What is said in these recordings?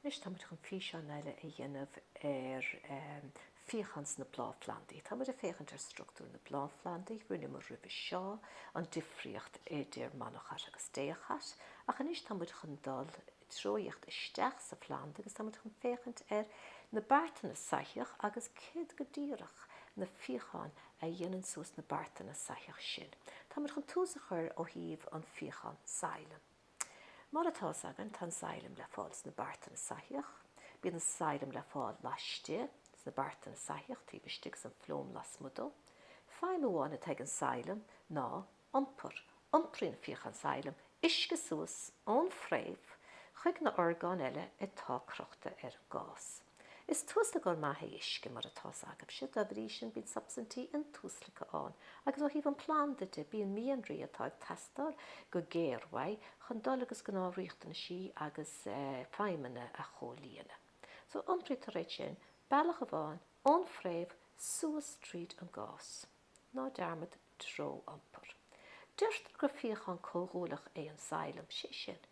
Anois tá muid chun físeán eile a dhéanamh ar fíocháin sna bláthphlandaí. Tá muid ag féachaint ar structúr na bláthphlandaí, rinneamar roimhe seo an difríocht idir monocot agus dicot, ach anois tá muid chun dul tuilleadh isteach sa phlanda agus tá muid chun féachaint ar na beartanna soithíoch agus céard go díreach na fíocháin a dhéanann suas na beartanna soithíoch sin. Tá muid chun tús a chur ó thaobh an fíochán Xylem. Mar atá fhios againn, tá an xylem le fáil sna beartanna soithíoch. Bíonn an xylem le fáil laistigh sna beartanna soithíoch taobh istigh agus an phloem lasmuigh dó. Feidhm amháin atá ag an xylem ná iompar. Iompraíonn fíochán xylem uisce suas ón fhréamh chuig na horgáin eile atá crochta ar an gas. Is tuaslagóir maith é uisce, mar atá fhios againne, dá bhrí sin bíonn substaintí intuaslagtha ann, agus ó thaobh an phlanda de, bíonn mianraí atá ag teastáil go géar uaidh chun dul agus gnáth riachtanaisí agus feidhmeanna a chomhlíonadh. So, iompraítear iad sin bealach amháin ón fhréamh suas tríd an gas. Ná dearmad treo iompar. Deirtear gur fíochán comhdhúileach é an xylem, sé sin,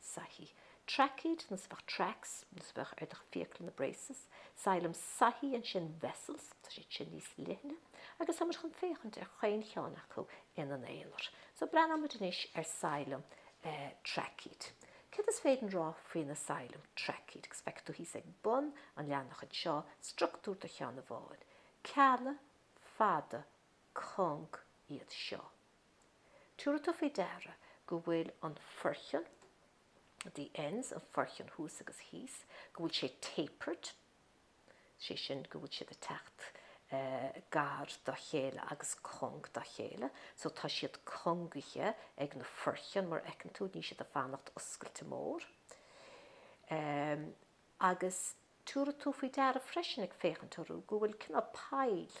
soithí. Traicéad, nós a bheadh tracks, nós a bheadh ar do fhiacla na braces. Xylem soithí ansin vessels, tá siad sin níos leithne agus táimid chun féachaint ar chaon cheann acu ina n-aonar. So breathnóimid anois ar xylem traicéad. Céard is féidir rá faoi na xylem traicéad? Agus feicfidh tú thíos ag bun an leathanach anseo structúr do cheann amháin. Cealla fada cúng iad seo. Tabharfaidh tú faoi deara go bhfuil an foirceann, the ends, an foirceann thuas agus thíos, go bhfuil sé tapered, sé sin go bhfuil siad ag teacht gar dá chéile agus cúng dá chéile, so tá siad cúngaithe ag na foirceann mar a fheiceann tú, níl siad ag fanacht oscailte mór. Agus tabharfaidh tú faoi deara freisin ag féachaint orthu go bhfuil cineál poill,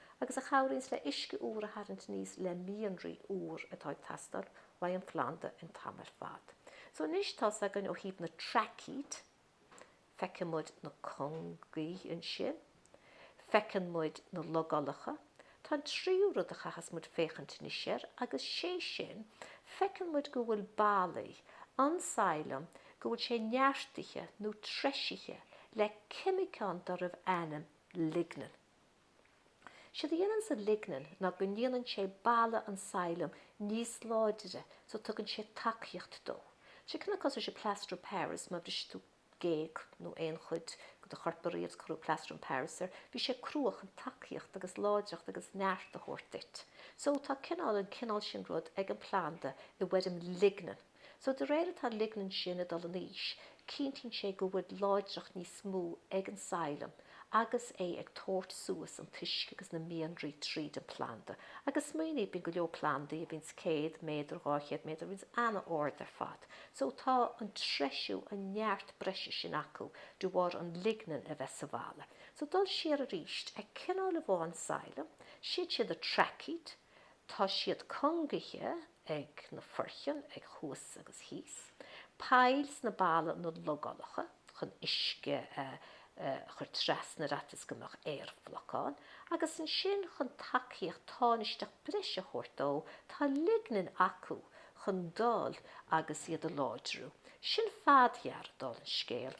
agus a chabhraíonns le uisce úr a tharraingt aníos le mianraí úr atá ag teastáil ón phlanda an t-am ar fad. So anois tá fhios againn ó thaobh na traicéad, feiceann muid na cúngaí ansin, feiceann muid na logálacha, tá an tríú rud a chaithfeas muid féachaint anois air agus sé sin, feiceann muid go bhfuil ballaí an xylem, go bhfuil sé neartaithe nó treisithe le ceimiceán darbh ainm lignin. Séard a dhéanann an lignin ná go ndéanann sé balla an xylem níos láidre so tugann sé tacaíocht dó. Sé cineál cosúil le Plaster of Paris, má bhris tú géag nó aon chuid de do chorp ariamh cuireadh Plaster of Paris air, bhí sé crua chun tacaíocht agus láidreacht agus neart a thabhairt duit. So tá cineál an cineál sin rud ag an planda i bhfoirm lignin. So de réir atá lignin sin ag dul in aois, cinntíonn sé go bhfuil láidreacht níos mó ag an xylem agus é ag tabhairt suas an t-uisce agus na mianraí tríd an planda. Agus smaoinigh, bíonn go leor plandaí a bhíonns céad méadar, dhá chéad méadar, a bhíonns ana-ard ar fad. So tá an treisiú, an neart breise sin acu de bharr an lignin a bheith sa bhalla. So dul siar arís, ag cineál amháin xylem, siad siad na traicéid, tá siad cúngaithe, ag na foircinn ag thuas agus thíos, poill sna ballaí nó logálacha chun uisce a chur trasna ar fhaitíos go mbeadh aerbhlocán, agus ansin chun tacaíocht tánaisteach breise a thabhairt dó tá lignin acu chun dul agus iad a láidriú. Sin fadghearradh d'fháil an scéal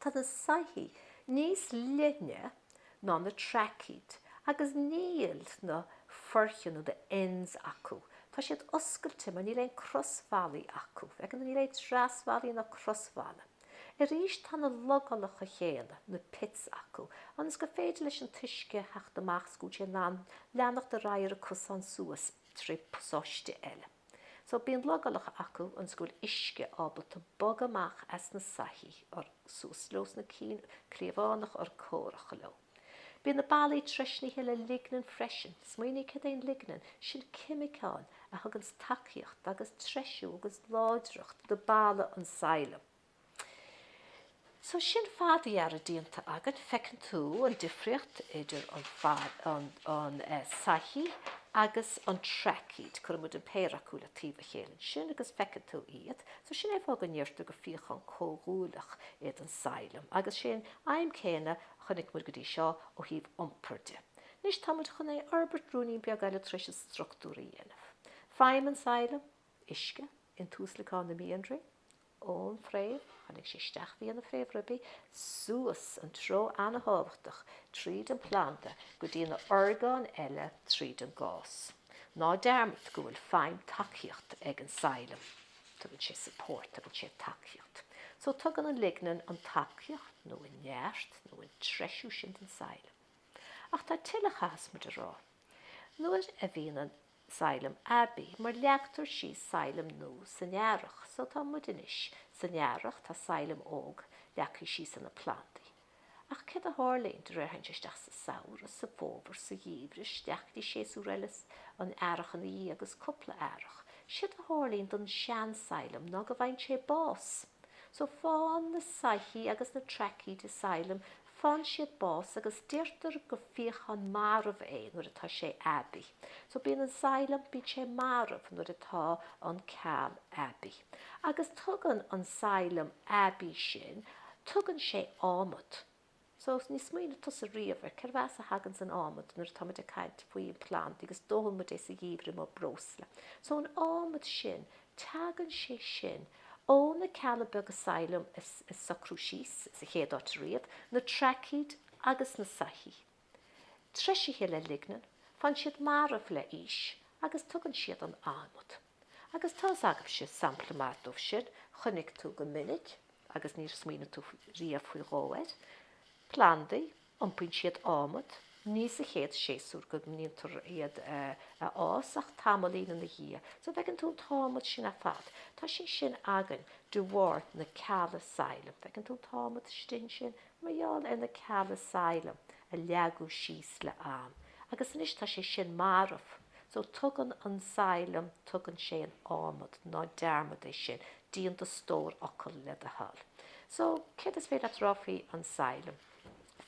Tá na soithí níos leithne ná na traicéid agus níl na foircinn nó the ends acu. Tá siad oscailte mar níl aon crosbhallaí acu. Again níl aon trasbhallaí ná crosbhallaí. Arís tá na logálacha chéanna, na pits, acu ionas gur féidir leis an t-uisce a theacht amach is go bhfuil sé in ann leanacht ar aghaidh ar a cosán suas trí pasáiste eile. So, bíonn logálacha acu ionas go bhfuil uisce ábalta bogadh amach as na soithí or suas leo sna cinn cliathánach or cóngarach leo. Bíonn na ballaí treisnithe le lignin freisin. Smaoinigh cad é an lignin, sin ceimiceán a thuganns tacaíocht agus treisiú agus láidreacht do balla an xylem. So sin fadghearradh déanta againn, feiceann tú an difríocht idir an fad, an, an soithí agus an traicéid, cuireann muid an péire acu le taobh a chéile ansin agus feiceann tú iad. So sin é fáth go ndeirtear gur fíochán comhdhúileach iad an xylem agus sé an aidhm céanna a chonaic muid go dtí seo ó thaobh iompar de. Anois tá muid chun é a fhorbairt ruainnín beag eile tar éis an struchtúr a dhéanamh. Feidhm an xylem, uisce, an tuaslagán na mianraí, ón phréamh, tháinig sé isteach via na fréamhribí, suas an treo an-tábhachtach tríd an bplanda go dtí na orgáin eile tríd an gas. Ná dearmad go bhfuil feidhm tacaíocht ag an xylem. Tugann sé support, tugann sé tacaíocht. So tugann an lignin an tacaíocht nó an neart nó an treisiú sin don xylem. Ach tá tuilleadh a chaithfeas muid a rá. Nuair a bhíonn an xylem aibí, mar leagtar síos xylem nua san Earrach, so tá muid anois. San Earrach tá xylem óg leagthaí síos sna plandaí. Ach céard a tharlaíonn, de réir a théann tú isteach sa Samhradh, sa bhFómhar, sa Gheimhreadh, 'steach go dtí séasúr eile, an Earrach ina dhiaidh agus cúpla Earrach, séard a tharlaíonn don sean-xylem ná go bhfaigheann sé bás. So faigheann na soithí agus na traicéidí xylem Faigheann siad bás agus deirtear go fíochán marbh é nuair atá sé aibí. So bíonn an xylem, bíonn sé marbh nuair atá an ceall aibí. Agus tugann an xylem aibí sin, tugann sé adhmad. So níor smaoinigh tusa riamh ar cérbh as a thaganns an adhmad nuair atáimid ag caint faoi an planda agus dófaidh muid é sa gheimhreadh mar breosla. So an adhmad sin Tagann sé sin ó na cealla beaga xylem a socraíodh síos, sa chéad áit ariamh, na traicéid agus na soithí. Treisithe le lignin, faigheann siad marbh le haois agus tugann siad an adhmad. Agus tá fhios agaibhse sampla maith dóibh sin, chonaic tú go minic, agus níor smaoinigh tú riamh faoi dhó air, plandaí, Iompaíonn siad adhmad ní sa chéad séasúr go ndéantar iad a fhás ach tamaillín ina dhiaidh. So bhfeiceann tú an t-adhmad sin ar fad. Tá sé sin againn de bharr na cealla xylem. Bhfeiceann tú an t-adhmad sin, sin mar gheall ar na cealla xylem a leagadh síos le am. Agus anois tá sé sin marbh. So tugann an xylem, tugann sé an adhmad. Ná dearmad é sin. Déan do stór fhocal le do thoil. So céard is féidir leat rá faoi an xylem?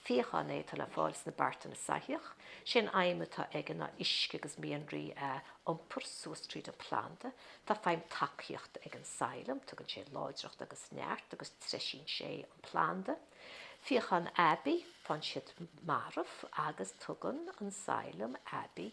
Fíochán é atá le fáil sna beartanna soithíoch. Sé an fheidhm atá aige ná uisce agus mianraí a iompar suas tríd an planda. Tá feidhm tacaíochta ag an xylem, tugann sé láidreacht agus neart agus treisíonn sé an planda. Fíochán aibí, faigheann siad marbh agus tugann an xylem aibí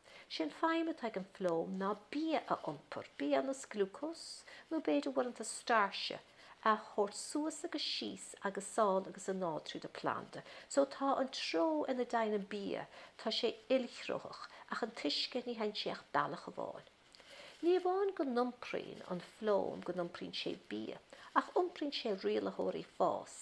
Sé an feidhm atá ag an phloem ná bia a iompar, bia ar nós glúcós nó b'fhéidir uaireanta stáirse a thabhairt suas agus síos agus sall agus anall tríd an planda. So tá an treo ina dteigheann an bia tá sé ilthreoch ach an t-uisce ní theigheann sé ach bealach amháin. Ní amháin go n-iompraíonn an phloem go n-iompraíonn sé bia, ach iompraíonn sé rialaitheoirí fás,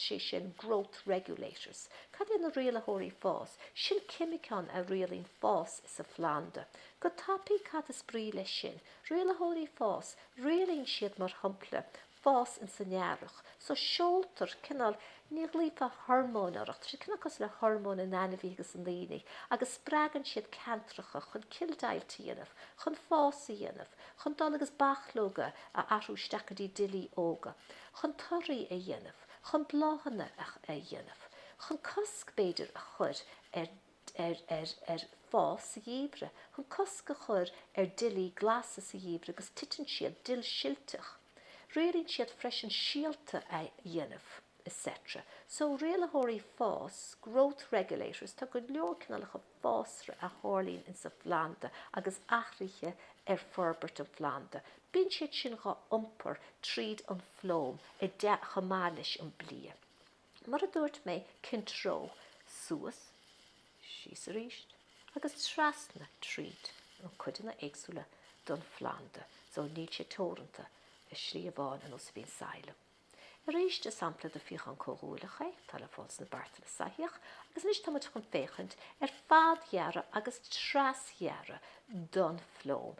sé sin, growth regulators. Cad é na rialaitheoirí fás? Sin ceimiceáin a rialaíonn fás sa phlanda. Go tapaidh, cad is brí leis sin? Rialaitheoirí fás, rialaíonn siad, mar shampla, fás ins an earrach. So seoltar cineál, ní ghlaofá hormóin air, ach tá sé cineál cosúil le hormóin in ainmhithe agus i ndaoine, agus spreagann siad ceantracha chun cilldeighilt a dhéanamh, chun fás a dhéanamh, chun dul agus bachlóga a athrú isteach go dtí duillí óga, chun torthaí a dhéanamh, chun bláthanna a dhéanamh, chun cosc, b'fhéidir, a chur ar. ar ar ar fás sa gheimhreadh chun cosc a chur ar duillí glasa sa gheimhreadh agus titeann siad duillsilteach. Rialaíonn siad freisin síolta a dhéanamh etc. So, rialaitheoirí fás, growth regulators, tá go leor cineálacha fásra a tharlaíonn in sa phlanda agus athruithe ar forbairt an phlanda, bíonn siad sin dhá iompar tríd an phloem i de chomh maith leis an bia. Mar a dúirt mé, cén treo, suas, síos arís, agus trasna tríd an cuideanna éagsúla den phlanda so níl sé teoranta le slí amháin ar nós a bhíonn xylem. Arís is sampla de fíochán comhdhúileach é, tá le fáil sna beartanna soithíoch, agus anois tá muid chun féachaint ar fadghearradh agus trasghearradh den phloem,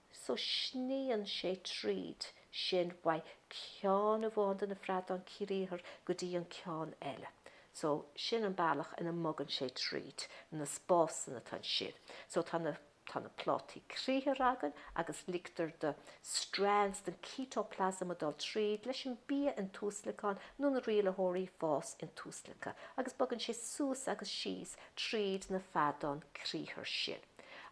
So sníonn sé tríd sin uaidh ceann amháin de na feadáin criathar go dtí an ceann eile. So, sin an bealach ina mbogann sé tríd na spásanna atá ansin. So, tá na plátaí criathar againn agus ligtear do strands den cíteaplasma a dul tríd leis an bia in tuaslagán nó na rialaitheoirí fás intuaslagtha agus bogann sé suas agus síos tríd na feadáin criathar sin.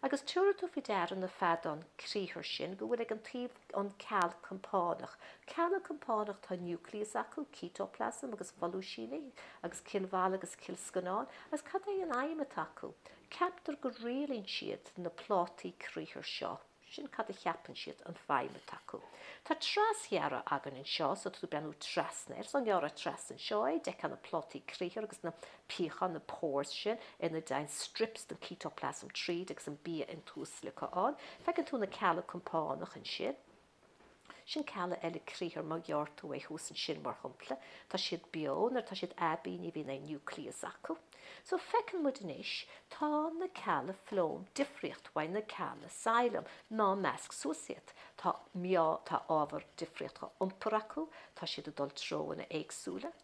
Agus tabharfaidh tú faoi deara na feadáin criathar sin go bhfuil ag an taobh an ceall compánach. Cealla compánach tá núicléas acu, cíteaplasma agus folúisíní agus cillbhalla agus cillscannán. Agus cad é an fheidhm atá acu? Ceaptar go rialaíonn siad na plátaí criathar seo. Sin cad a cheapann siad an feidhm atá acu. Tá trasghearradh againn anseo so tú ag breathnú trasna air. So dá ngearrfá trasna anseo é, d'fheicfeá na plátaí criathar agus na piocháin, na pores sin ina dtéann strips den chíteaplasma tríd agus an bia intuaslagtha ann. Feiceann tú na cealla compánach ansin. Sin cealla eile criathar má ghearr tú é thuas ansin, mar shompla. Tá siad beo nuair atá siad aibí ní bhíonn aon núicléas acu. So feiceann muid anois tá na cealla phloem difríocht uaidh na cealla xylem ná measc suas iad. Tá meá tá ábhar difríocht á iompar acu, tá siad ag dul treonna éagsúla.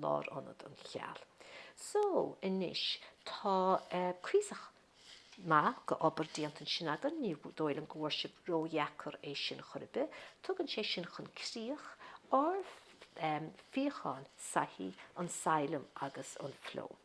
lárionad an cheall so anois. Tá cuíosach maith d'obair déanta ansin againn. Ní dóigh liom go bhfuair sibh ródheacair é sin chor ar bith. Tugann sé sin chun críoch ár bhfíochán soithíoch, an xylem agus an phloem